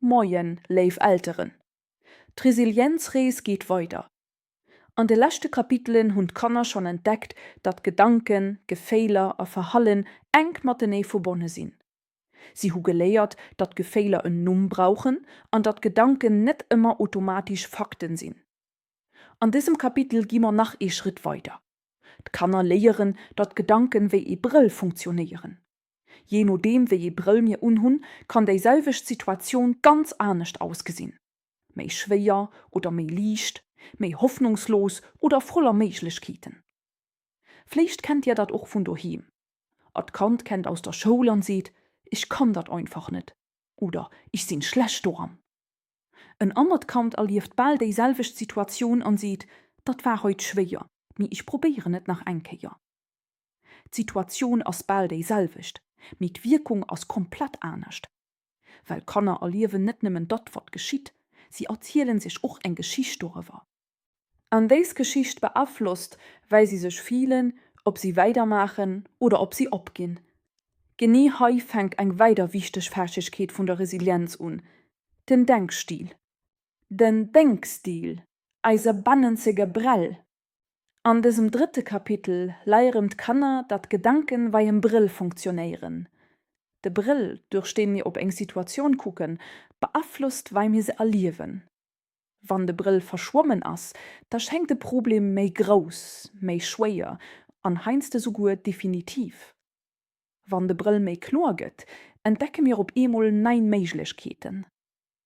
Moien, léif Elteren! D'Resilienzrees geet weider. An de leschte Kapitelen hunn d'Kanner schonn entdeckt, datt Gedanken, Geféiler a Verhallen enk matenee verbonne sinn. Si hu geléiert, datt Geféiler en Numm brauchen an datt Gedanken net ëmmer automatesch Fakten sinn. An dësem Kapitel gi mer nach ee Schrëtt weider. D'Kanner léieren, datt Gedanken wéi ee Brëll funktionéieren. Jee nodeem wéi ee Brëll mir unhunn, kann déi selwecht Situatioun ganz anescht ausgesinn, méi schwéier oder méi liicht, méi hoffnungslos oder voller Méiglechkeeten. Vléicht kennt dir dat och vun doheem, Ert Kand kennt aus der Schoul an seet, Ech kann dat einfach net oder Ech sinn schlecht doran. En anert Kand erlieft bal déi selwecht Situatioun an seet, Dat war heut schwéier, mee ech probéieren et nach eng Kéier. D'Situatioun ass bal déi selwecht, mee d'Wierkung ass komplett anescht. Well d'Kanner erliewen net nëmmen datt, wat geschitt, si erzielen sech och eng Geschicht doriwwer. An dës Geschicht beaflosst, wei si sech filen, ob si weidermaachen oder ob si opginn. Genee hei fänkt eng weider wichteg Fäegkeet vun der Resilienz un, den Denkstil. Den Denkstil, eise bannenzege Brell, An dësem drëtte Kapitel leieren d'Kanner dat Gedanken wei en Brëll funktionéieren. De Brëll duerch deen mir op eng Situatioun kucken beaflosst wei mir se erliewen. Wann de Brëll verschwommen ass, da schengt de Problem méi grouss, méi schwéier an heiansdo souguer definitiv. Wann de Brëll méi kloer gëtt, entdecke mir op eemol nei Méiglechkeeten.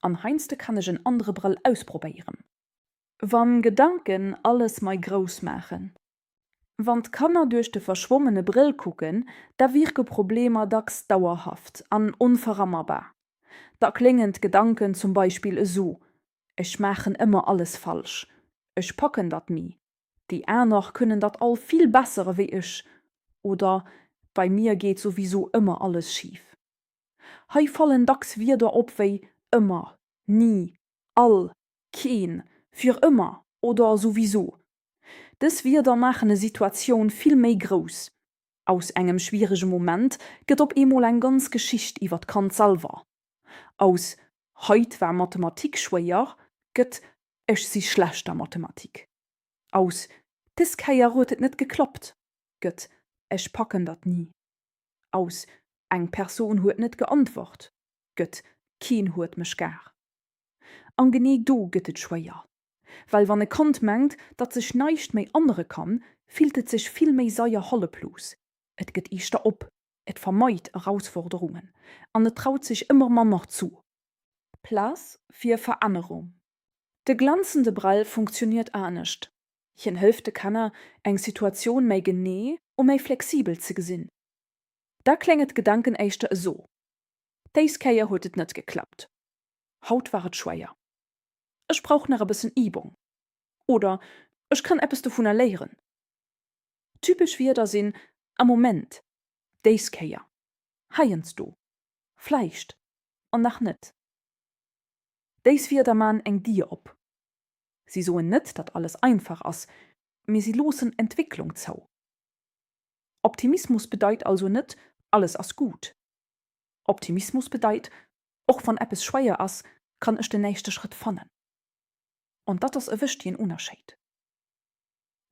An heinsde kann ech en andre Brëll ausprobéieren. Wann Gedanken alles mei grouss maachen. Wann d'Kanner duerch de verschwommene Brëll kucken, da wierke Problemer dacks dauerhaft an onverammerbar. Da kléngen d'Gedanken zum Beispill esou, Ech maachen ëmmer alles falsch. Ech packen dat ni. Déi aner kënnen dat all vill besser ewéi ech. Oder, Bei mir geet souwisou ëmmer alles schif. Hei fallen dacks Wierder op wéi ëmmer, ni, all, keen, fir ëmmer oder souwiso. Dës Wierder maachen e Situatioun vill méi grouss. Aus engem schwierege Moment gëtt op eemol eng ganz Geschicht iwwer d'Kand selwer. Aus Haut war Mathematik schwéier gëtt Ech si schlecht a Mathematik. Aus Des Kéier huet et net geklappt gëtt Ech packen dat ni. aus Eng Persoun huet net geantwort gëtt Keen huet mech gar An genee do gëtt et schwéier, well wann e Kand mengt, datt sech näischt méi annere kann, fillt et sech vill méi seier halleflos, et gëtt eeschter op, et vermeit Erausforderungen an et traut sech ëmmer manner zu. Plaz fir Verännerung. De glänzende Brell funktioniert anescht. Hien hëlleft de Kanner, eng Situatioun méi genee u méi flexibel ze gesinn. Da klénge d'Gedanken éischter eso, Déis Kéier huet et net geklappt. Haut war et schwéier. Ech brauch nach e bëssen Übung. Oder ech kann eppes dovunner léieren. Typesch Wierder sinn am Moment, déis Kéier, heiansdo, vläicht an nach net. Déis Wierder man eng Dier op. Si soen net, datt alles einfach ass, mee si loossen Entwécklung zou. Optimismus bedeit also net, alles ass guut. Optimismus bedeit, och wann eppes schweier ass, kann ech den nächste Schrëtt fannen. An datt ass e wëchtigen Unerscheid.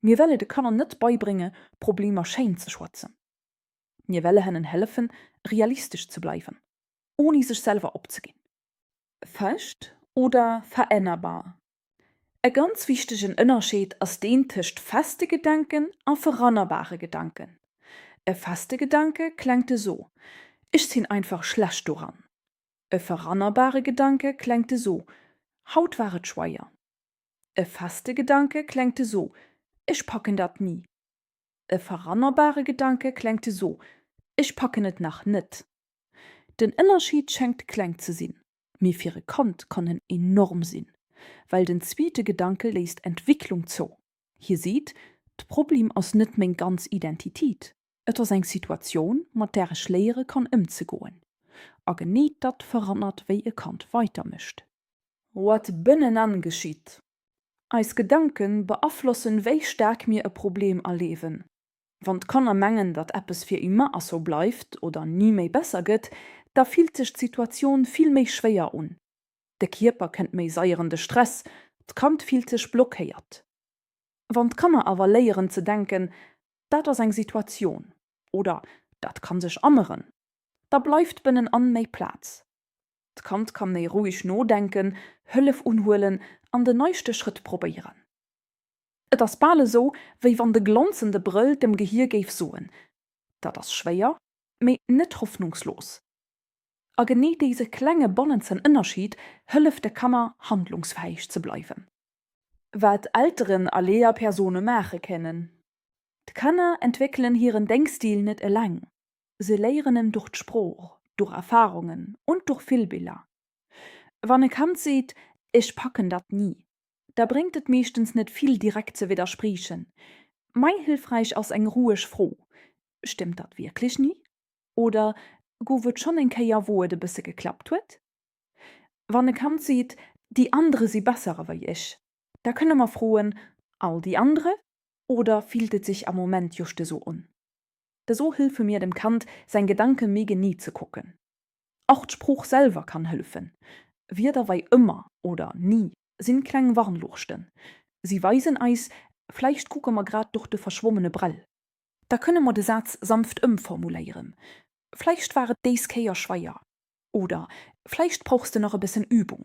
Mir welle de Kanner net beibrénge Problemer schéin ze schwatzen. Mir welle hennen hëllefen realistesch ze bleiwen, ouni sech selwer opzeginn. Fest oder verännerbar? E ganz wichtegen Ënnerscheed ass deen tëscht feste Gedanken a verannerbare Gedanken. E feste Gedanke klengt esou, Ech sinn einfach schlecht doran. E verannerbare Gedanke klengt esou, Haut war et schweier. E feste Gedanke klengt esou, Ech packen dat ni. E verrannerbare Gedanke klengt esou, Ech packen et nach net. Den Ënnerscheed schengt kleng ze sinn, mee fir e Kand kann en enorm sinn, well den zweete Gedanke léisst Entwicklung zou. Hie seet, D'Problem ass net meng ganz Identität, et ass eng Situatioun, mat där ech léiere kann ëmzegoen. A genee datt verrannert, wéi e Kand weidermécht. Wat bënnenan geschitt, Eis Gedanke beaflossen wéi staark mir e Problem erleewen. Wann d'Kanner mengen datt eppes fir immer asou bleift oder ni méi besser gëtt, da fillt sech d'Situatioun vill méi schwéier un. De Kierper kënnt méi seier an de Stress, d'Kand fillt sech blockéiert. Wann d'Kanner awer léieren ze denken, dat ass eng Situatioun oder dat kann sech änneren, da bleift bënnenan méi Plaz. D'Kand kann méi roueg nodenken, Hëllef unhuelen an den neiste Schrëtt probéieren. Et ass bal esou, wéi wann de glonzende Brëll dem Gehier géif soen, Dat ass schwéier, mee net hoffnungslos. A genee dese klenge bannenzegen Ënnerscheed hëlleft de Kanner, handlungsfäeg ze bleiwen. Wat Elteren a Lehrpersone maache kënnen, D'Kanner entwéckelen hiren Denkstil net eleng. se léieren en durch d'Sprooch, durch Erfahrungen und durch Filbiller. Wann e Kand seet, Ech packen dat ni, da bréngt et meeschtens net vill direkt ze widderspriechen. Mei hilfreich ass eng roueg Fro, Stëmmt dat wierklech ni? oder Gouf et schon eng Kéier wou et e bësse geklappt huet? Wann e Kand seet, Die andere si bessere wei ech, da kënne mer froen, All die andere oder fillt et sech am Moment just esou un? Esou hëlfe mir dem Kand, seng Gedanke méi genee ze kucken. Och d'Sprooch selwer kann hëlfen. Wierder wei ëmmer oder ni sinn kleng Warnluuchten. Si weisen eis, vläicht kucke mer grad duerch de verschwommene Brell. Da kënne mer de Saz sanft ëmformuléieren, Vläicht war et des Kéier schweier. Oder, Vläicht brauchs de nach e bëssen Übung.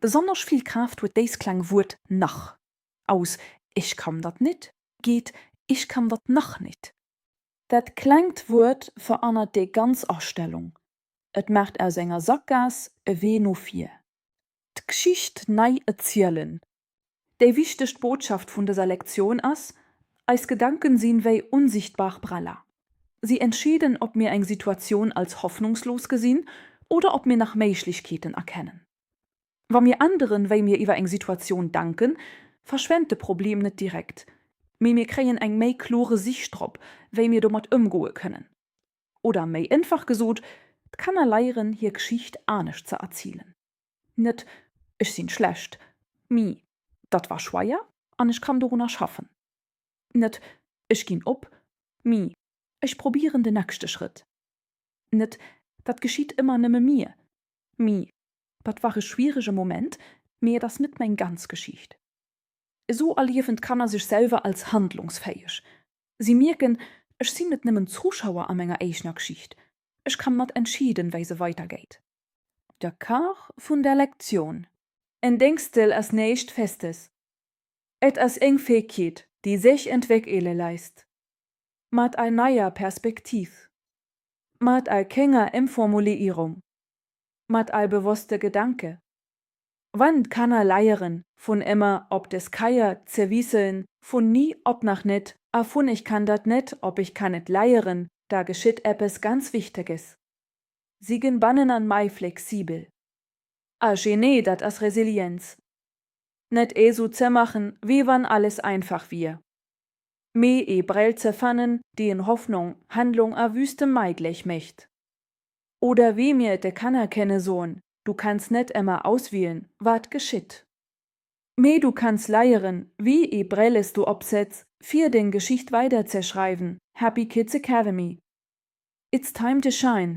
Besonnesch vill Kraaft huet déist kleng Wuert nach. Aus Ich kann dat nit geet Ich kann dat nach nit. Dat klengt Wuert verannert déi ganz Astellung. Et maacht aus enger Sakgaass e Wee no vir. D'Gschicht nei erzielen, Déi wichtegt Botschaft vun dëser Lektioun ass, Eis Gedanken sinn wéi unsichtbar Breller. Si entscheeden ob mir eng Situatioun als hoffnungslos gesinn oder ob mir nach Méiglechkeeten erkennen. Wa mir änderen wéi mir iwwer eng Situatioun denken, verschwennt de Problem net direkt, mee mir kréien eng méi klore Sich drop wéi mir domat ëmgoe kënnen. Oder méi énfach gesot, d'Kanner leieren hir Geschicht anescht ze erzielen. Net, Ech sinn schlecht, mee datt war schweier an ech kann dorunner schaffen. Net, Ech ginn op, mee ech probieren de nexchte Schrëtt. Net, Datt geschitt ëmmer nëmme mir, mee datt war e schwierege Moment, mee et ass net meng ganz Geschicht. Esou erliewen d'Kanner sech selwer als handlungsfäeg. Si mierken, Ech sinn net nëmmen Zuschauer a menger eegener Geschicht, ech kann mat entscheeden, wei se weidergeet. Der Kar vun der Lektioun. En Déngstel ass néischt Festes. Et ass éng Féegkeet, déi séch entwéckele leisst. Mat ei neier Perspektiv. Mat ei kénger Émformuliierung. Mat ei bewosste Gedanke. Wann d'Kanner leieren, vun émmer op des Keier ze wiisselen, vun ni op nach net a vun ech kann dat net op ech kann et leieren, da geschitt eppes ganz Wichteges. si gen bannen an mei flexibel. Ah genee dat ass Resilienz. Net ee su ze machen wéi wann alles einfach wier. Mee ee Brell ze fannen déi en Hoffnong, Handlung a Wüste meigléch mécht. Oder wéi mir et de Kanner kenne soen, du kanns net emmer auswielen wat geschitt. mee du kanns leieren wéi ee Brilles du opsetz fier deng Geschicht weider ze schreiwen Happy Kids Academy It's time to shine!